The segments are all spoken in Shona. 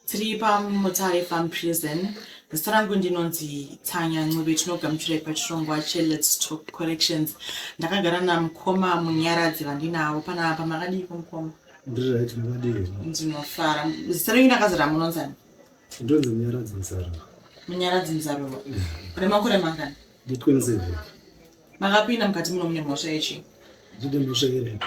tiri pamutare farm prison zita rangu ndinonzi tsanya ncube tinogamuchirai pachirongwa chelets talk corrections ndakagara namukoma munyaradzi vandinavo panapa makadiiko mukoma ndiri right makadii ndinofara zita renyu ndakazara munonzani ndonzi munyaradzi muzaro munyaradzi muzaro remakore mangani nditwenseven makapinda mukati muno mune mhosva yechi ndine mhosva yerepi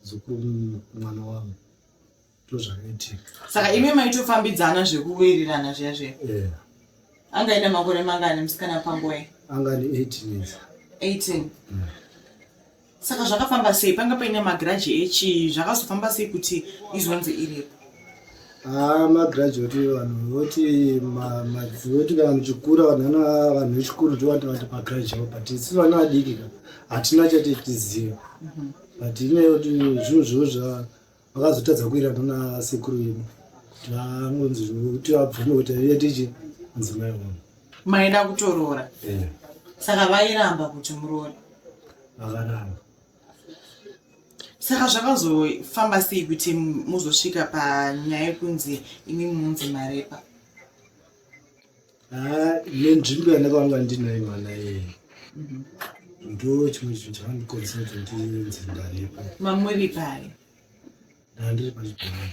muzukuru mwana wavo ndozvakaitika saka imi maitofambidzana zvekuwirirana zviya zviya yeah. anga ine makore mangani musikana pangoe anga ane 18 years 18 yeah. Mm. saka zvakafamba sei panga paine magiraji echii zvakazofamba sei kuti izonzi iripo haa magraduate vanhu voti madzi voti kana muchikura vanhu vanhu vechikuru ndovati vati pagraduate but isu vana vadiki ka hatina chati tiziva mhm. but inyaya yekuti zvinhu zvivo zva vakazotadza kuirana nasekuru vedu tangonzi kuti vabvume kuti aive tichi mudzimai wavo maida kutoroora eh. saka vairamba kuti muroore vakaramba saka zvakazofamba sei kuti muzosvika panyaya yekunzi imi munzi marepa ah, nenzvimbo yandakavanga ndinaye mwana iyeye mhm. ndo chimwe chinhu chakandikonzera kuti ndinzi ndarepa mamuri pai ndandiri pachibhorani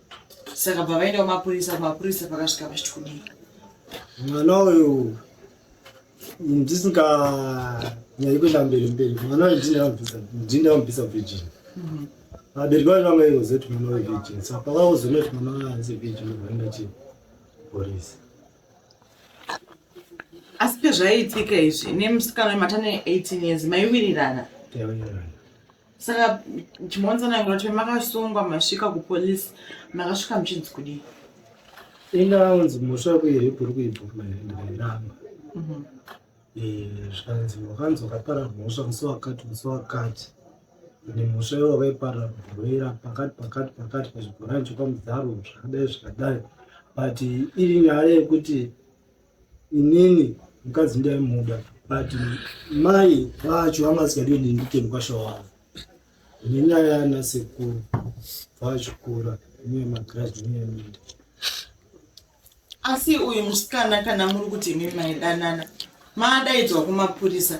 saka bva vaenda kumapurisa kumapurisa pakasvika vachiti kudii mwana uyu ndisinga nyari kuenda mberi mberi mwana uyu ndindaambisa virgin mhm. vabereki vacho vanga ivoziva kuti mwana uyu virgin sa pakaozoona kuti mwana uyu anzi virgin ovaenda chi porisi asi pezvaiitika izvi nemusikana wematane 18 years maiwirirana taiwirirana saka chimwanzanangira kuti makasungwa masvika kupolisi makasvika muchinzi kudii inga unzi musha kuirepu uri kuibvuma here ndikairamba mhm. eh, zvikanzi wakanzi wakapara mhosva musi wakati musi wakati ende mhosva iyo wakaipara bhuroira pakati pakati pakati pachibhorani chekwamudzaro zvakadai zvakadai but iri nyaya yekuti inini mukadzi ndaimuda but mai vacho vanga vasikadi kuti ndiite mukwasha wavo nenyaya yana sekuru vachikura uye magradi uye minda asi uyu musikana kana muri kuti imi maidanana maadaidzwa kumapurisa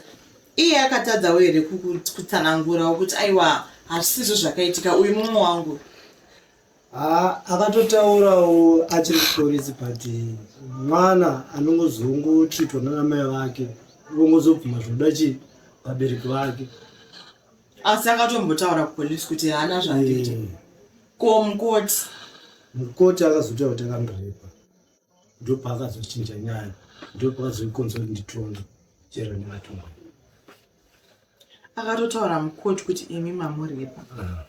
iye akatadzawo here kutsanangurawo kuti aiwa hazvisizvo zvakaitika uyu mumwe wangu Haa akatotaurawo achiri kupolisi but mwana anongozongotritwa nanamai vake vongozobvuma zvinoda chii vabereki vake asi akatombotaura kupolisi kuti haana zvaita ko mukoti mukoti akazotaura kuti akamrepa ndopaakazochinja nyaya ndopaakazoikonza kuti nditonge chero ndimatonga akatotaura mukoti kuti imi mamurepa ah.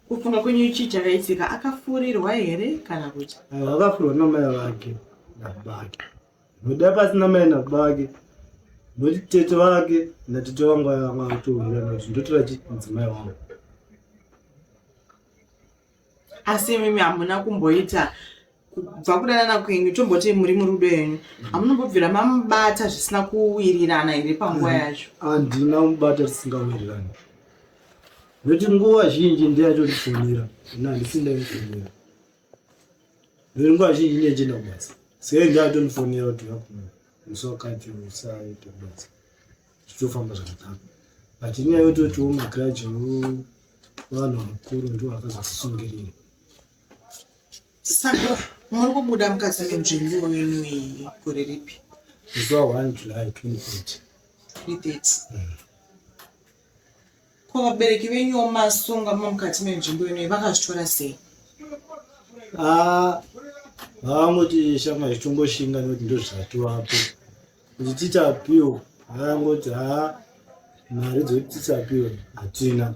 kufunga kwenyu chii chakaitika akafurirwa here kana kuti ah, akafurirwa namai vake nabake noda pasina mai nabake noti tete vake natete vangu vanga vatohura nazvo ndotora chi mudzimai wangu asi imimi hamuna kumboita kubva kudanana kwenyu tomboti muri murudo yenyu hamunombobvira mamubata zvisina kuwirirana here panguva yacho handina mubata tisingawirirani nekuti nguva zhinji ndeyatotifonera ina handisindaifonera nekuti nguva zhinji ndiyachienda kubasa sei ndeyatonifonera kuti vakuno musi wakati musaita basa zvichitofamba zvakadaro but inyaya yototiwo magrudge vanhu vakuru ndiwo vakazosisungirira saka muri kubuda mukadzi nenzvimbo yenu iyi gore ripi zuva 1 july 2030 2030 mm. Ko vabereki venyu vomasunga mukati menzvimbo inoyi vakazvitora sei? Ah, vaangoti shama zvitongoshinga nekuti ndozvatiwapo kuti tichapiwa vaangoti ha ah, mari dzekuti tichapiwa hatina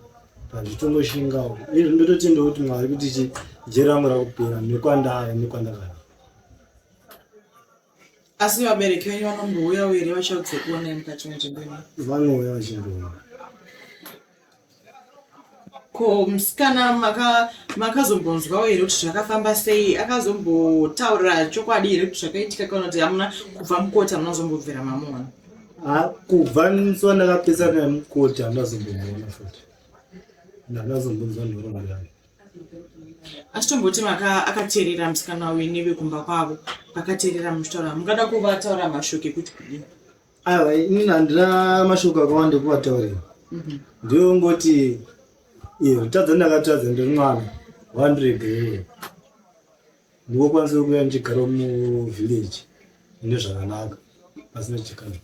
pazvitongoshingawo izvi ndototendawo kuti mwari kuti jera rangu rakupera nekwandava nekwandagara asi vabereki venyu vanombouyawo here vachaudzokuonai mukati menzvimbo ino vanouya vachindoona ko musikana makazombonzwawo here kuti zvakafamba sei akazombotaurira chokwadi here kuti zvakaitika kana kuti hamuna kubva mukoti hamuna zombobvira mamuona kubva nso ndakapesana nemukoti handazombomona futi ndandazombonzwa nhorombo yayo asi tomboti akateerera musikana uyu nevekumba kwavo vakateerera muchitaura mungada kuvataura mashoko ekuti kudii aiwa inini handina mashoko akawanda ekuvataurira mhm. ndiyongoti iyo kutadza ndakatadza ndiri mwana wandiregerere ndikokwanisa kuya ndichigara muvhileji ine zvakanaka pasina chikana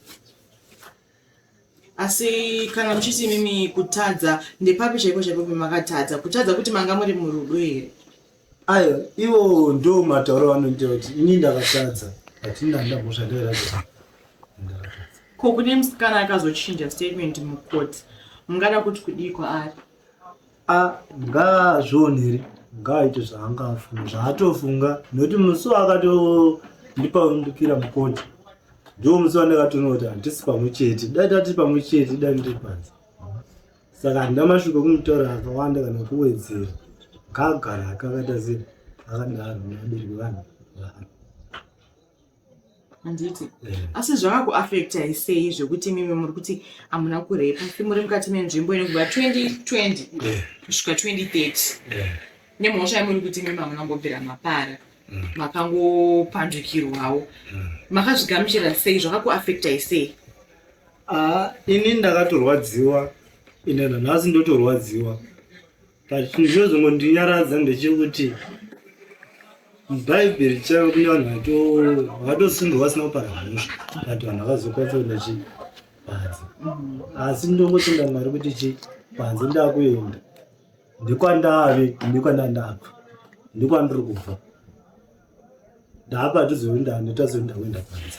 asi kana muchiti imimi kutadza ndepapi chaipo chaipo pemakatadza kutadza kuti manga muri murudo here ayo ivo ndo matauro vanoita kuti ini ndakatadza hatina ndamhosva ndoiraa ko kune musikana akazochinja statement mucourt mungada kuti kudii kwaari a ngaazvionere ngaaite zvaanga afunga zvaatofunga nekuti musi waakatondipaundukira mukoti ndiwo musi wandakatoona kuti handisi pamwe chete dai tati pamwe chete dai ndiri panze saka handina mashoko kumutaura akawanda kana kuwedzera ngaagara akakatazira akadaro nevabereki vanhu vaari handiti eh. asi zvakakuafecta isei zvekuti mimi muri kuti hamuna kurepa asi muri mukati menzvimbo ine kubva 2020 eh. kusvika 2030 eh. nemhosva yamuri kuti mimi hamuna kumbobvira mapara mm. makangopandukirwawo mm. makazvigamuchira sei zvakakuafecta isei ah, ini ndakatorwadziwa ine nanhasi ndotorwadziwa but chinhu chinozongondinyaradza ndechekuti bhaibheri chaive kune vanhu vatosungirwa vasina kupara mhosva but vanhu havazokwanisa kuenda chi panze asi ndongotenda mwari kuti chi panze ndakuenda ndikwandave ndikwandandabva ndikwandiri kubva ndaapa tizoenda netazoenda kuenda panze